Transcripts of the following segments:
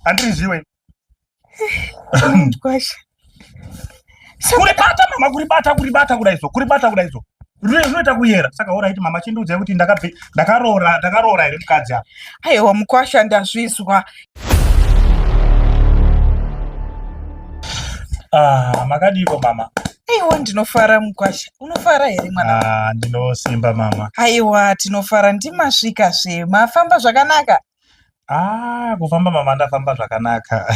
Andiri zviwe. Kwasha. Kuri bata mama kuri bata kuri bata kudai so kuri bata kudai so. Rune zvinoita kuyera saka ora iti mama chindudzai kuti ndakabve ndakaroora ndakaroora here mukadzi apa. Aiwa mukwasha ndazvizwa. Ah, makadiko mama. Aiwa ndinofara mukwasha. Unofara here mwana? Ah, ndinosimba mama. Aiwa tinofara ndimasvika zve. Mafamba zvakanaka. Ah, kufamba mama ndafamba zvakanaka.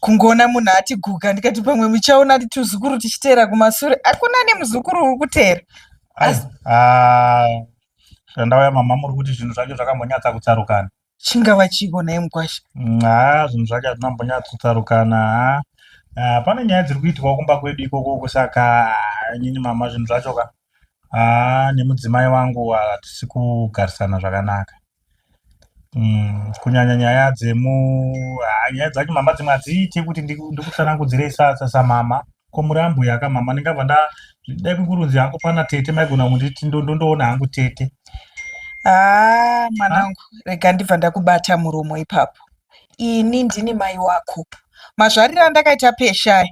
kungoona munhu atiguka ndikati pamwe muchaona tuzukuru tichiteera kumasure hakuna nemuzukuru uri kuteera zvandauya ah, mama muri kuti zvinhu zvacho zvakambonyatsa kutsarukana chingava chiko naye mukwasha mm, haa ah, zvinhu zvacho hazvina mbonyatsa kutsarukana haa ah, pane nyaya dziri kuitwa kumba kwedu ikoko kusaka nyini mama zvinhu zvacho ka haa nemudzimai wangu hatisi kugarisana zvakanaka Mm, kunyanya nyaya dzemu ah, nyaya dzacho mama dzimwe hadziite kuti ndikutsanangudzirei samama ko murambo yaka mama ndingabva nda dai kukurunzi hangu pana tete maigona kunditi ndondoona hangu tete haa ah, mwanangu rega ndibva ndakubata muromo ipapo ini ndini mai wako mazvariro andakaita peshaya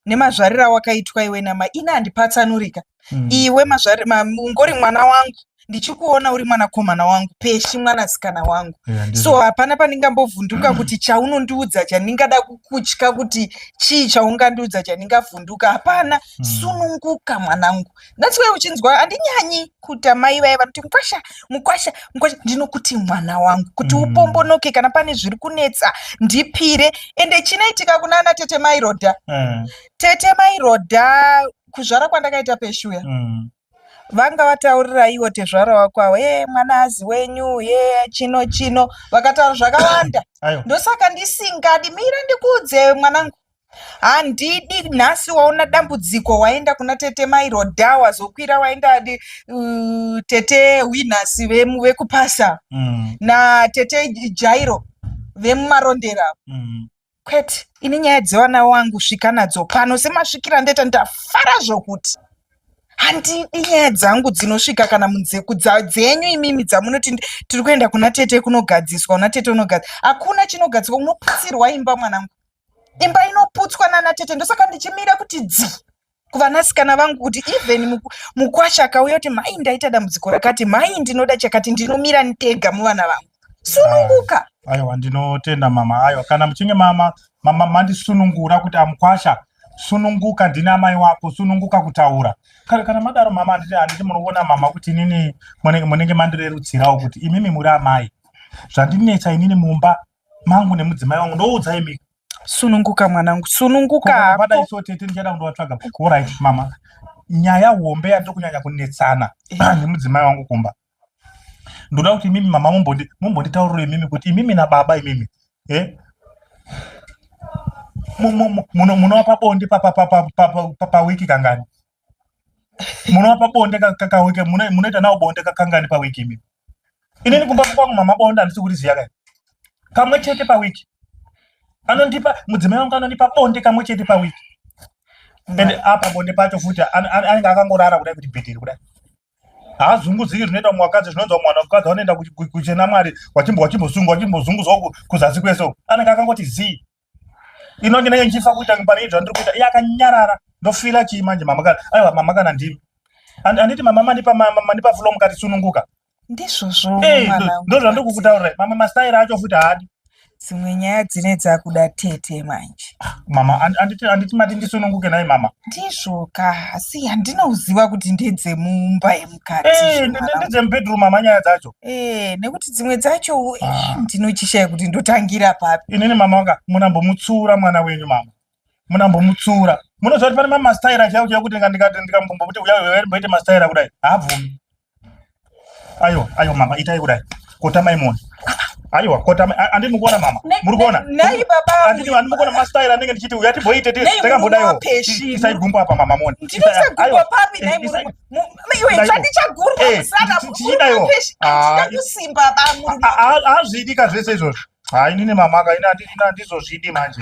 nemazvariro awakaitwa iwe nama ini handipatsanurika mm. iwe mazvari ma, ungori mwana wangu ndichikuona uri mwanakomana wangu peshi mwanasikana wangu yeah, so hapana pandingambovhunduka mm. kuti chaunondiudza chandingada kukutya kuti chii chaungandiudza chandingavhunduka hapana mm. sununguka mwanangu that's why uchinzwa handinyanyi kuti amai vaye vanoti mukwasha mukwasha mukwasha ndinokuti mwana wangu kuti mm. upombonoke kana pane zviri kunetsa ndipire ende chinoitika kuna ana tete mairodha mm. tete mairodha kuzvara kwandakaita peshuya mm. vanga vataurira iwo tezvara wako awo e mwana azi wenyu ye chino chino vakataura zvakawanda ndosaka ndisingadi mira ndikuudze mwanangu handidi nhasi waona dambudziko waenda kuna tete mairoda wazokwira waenda uh, tete winas vekupasa mm. na tete jairo vemumarondera mm. kwete ini nyaya dzevana wangu svika nadzo pano semasvikira ndoita ndafara zvokuti handidi nyaya dzangu dzinosvika kana munzeku dzenyu imimi dzamunoti tiri kuenda kuna tete kunogadziswa una tete unogadzi hakuna chinogadziswa unoputsirwa imba mwanangu imba inoputswa nana tete ndosaka ndichimira kuti dzi kuvanasikana vangu kuti even mukwasha akauya kuti mhai ndaita dambudziko rakati mhai ndinoda chakati ndinomira ndega muvana vangu sununguka aiwa ndinotenda mama aiwa kana muchinge mama mama mandisunungura kuti amukwasha sununguka ndini amai wako sununguka kutaura kana, kana madaro mama handiti handiti munoona mama kuti inini munenge mandirerutsirawo kuti imimi muri amai zvandinetsa inini mumba mangu nemudzimai wangu ndoudzai mika sununguka mwanangu sununguka hako so tete ndichada kundovatsvaga orit mama nyaya hombe yandiri kunyanya kunetsana eh. nemudzimai wangu kumba ndoda kuti imimi mama mumbonditauriro imimi kuti imimi nababa imimi eh? munova pabonde pawiki kangani munopa bonde kakawike munoita nawo bonde kakangani pawiki imi inini kumba kwangu mama bonde handisi kuriziya kai kamwe chete pawiki anondipa mudzimai wangu anondipa bonde kamwe chete pawiki and apa bonde pacho futi anenge akangorara kudai kuti bhedheri kudai haazunguziki zvinoita mumwe wakadzi zvinonzwa mwana wakadzi wanoenda kuchena mwari wachimbosungwa wachimbozunguzwa kuzasi kwese anenge akangoti zii inonge ndenge ndichifa kuita pane zvandiri kuita iye akanyarara ndofila chii manje mama kana aiwa mama kana ndimi handiti mama mandipa mandipa fulo mukati sununguka ndizvozvo eh, ndo zvandiri kukutaurira mama mastaira acho futi haadi dzimwe nyaya dzine dzakuda tete manje mama anditi mati ndisununguke naye mama ndizvoka asi handinouziva kuti ndedzemumba mukati eh, ndedzemubedroom mama nyaya dzacho eh, nekuti dzimwe dzacho eh, ah. ndinochishaya kuti ndotangira papi inini mama wanga munambomutsura mwana wenyu mama munambomutsura munoziva kuti pane mamastaira chaiwo chaiwo kuti ndikati ndikambombokuti uya mboite mastaira kudai haabvumi ayo ayo mama itai kudai kotamai moni aiwa kotama andini mukuona mama muri kuona nei baba andini andini mukuona mastaira anenge ndichiti uya tibhoite tese takambodaiwo isaigumbo apa mama moni ndinoisa gumbo papi nei hazviidi ka zvese izvozvo ha inini mamaka handizozvidi manje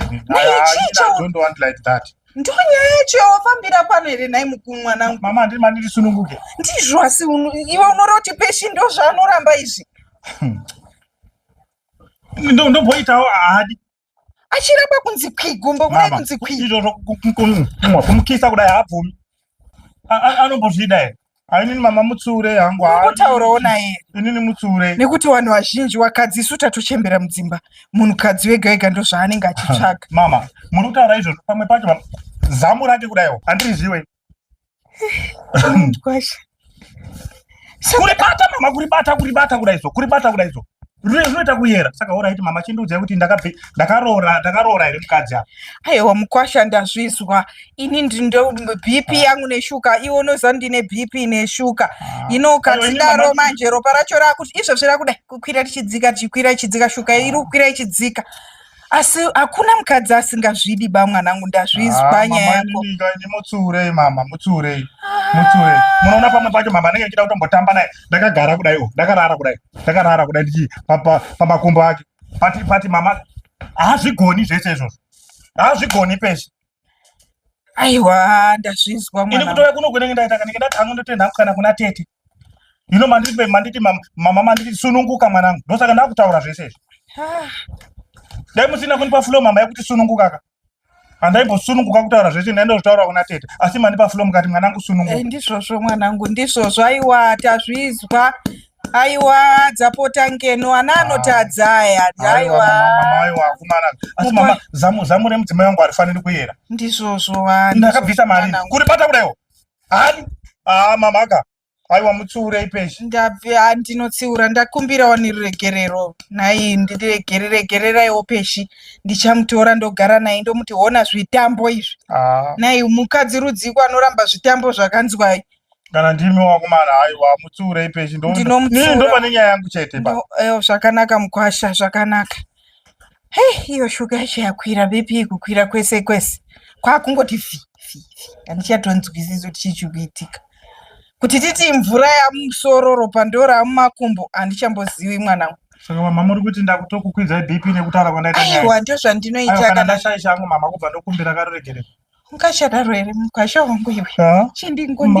ndo nyaya yacho yawafambira pano here nhai mukuru mwanangu mama handiri mandiri sununguke ndizvo asi iwe unora kuti peshi ndo zvaanoramba izvi hmm. ndomboitawo haadi achiramba kunzi kwi gumbo kudai kunzi kwi izvo zvokumwa kumukisa kudai haabvumi anombozvida here ainini mama mutsure hangu kutaurawo naye inini mutsure nekuti vanhu vazhinji wakadzi isu tatochembera mudzimba munhukadzi wega wega ndozvaanenge achitsvaga mama muri kutaura izvozvo pamwe pacho zamu rake kudaiwo handiriziwe kuribata mama kuribata kuribata kudaiso kuribata kudaiso rure zvinoita kuyera saka oraiti mama chindiudzai kuti ndakaroora ndakaroora here mukadzi apa aiwa mukwasha ndazvizwa ini ndindo bp ah. yangu neshuka iwe unoziva ndine bp neshuka ah. ino ukatsidaro manje ropa racho rakuti izvozvi rakuda kukwira tichidzika tichikwira ichidzika shuka iri kukwira ichidzika asi hakuna mukadzi asingazvidi ba mwanangu ndazvizwa ah, nyaya yako ini mutsiurei mama mutsiurei ah. mutsiurei munoona pamwe pacho mama anenge achida kutombotamba naye ndakagara kudai o oh, ndakarara kudai ndakarara kudai ndichi pamakumbo ake pati pati mama hazvigoni zvese izvozvo hazvigoni pese aiwa ndazvizwa ini kutouya kuno kunenge ndaita kanenge ndati hangu ndotoenda kukana kuna tete ino manditi manditi mama manditi sununguka mwanangu ndosaka ndakutaura zvese izvi ah. dai musina kundipa flo mama yekuti sununguka ka handaibosununguka kutaura zvese ndaenda kutaura kuna tete asi mandipa flo mukati mwanangu sununguka ndizvozvo mwanangu ndizvozvo aiwa tazvizwa aiwa dzapota ngeno ana ah. anotadza aya aiwaaiwakumanaa zamu remudzimai wangu harifaniri kuyera ndizvozvo ndakabvisa mari kuri bata kudaiwo Ani? Ah, mamaka. Aiwa mutsiurei peshi. Ndabve ah, ndinotsiura ndakumbira wani ruregerero. Nhai ndiregere regereraiwo peshi. Ndichamutora ndogara naye ndomuti hona zvitambo izvi. Ah, Nhai mukadzi rudziko anoramba zvitambo zvakanzwai. kana ndimi wakomana aiwa mutsiurei peshi. Ndo- Ndinomutsiura. Ndiri ndopane nyaya yangu chete pa. Ndo- eh, Zvakanaka mukwasha zvakanaka. Hey, iyo shuga yacho yakwira BP kukwira kwese kwese kwakungoti fi fi fi handichatonzwisisi kuti chii chiri kuitika kuti titi mvura yamusoro ropa ndo ramumakumbo handichamboziwi mwanangu saka mama muri kuti ndakutokukwidzai BP nekutaura kwandaita nyaya aiwa ndo zvandinoita Aiwa, kana kana ndashaisha hangu mama kubva ndokumbira karuregerero ungachadaro here mukwasha wangu iwe Ah. chindingondi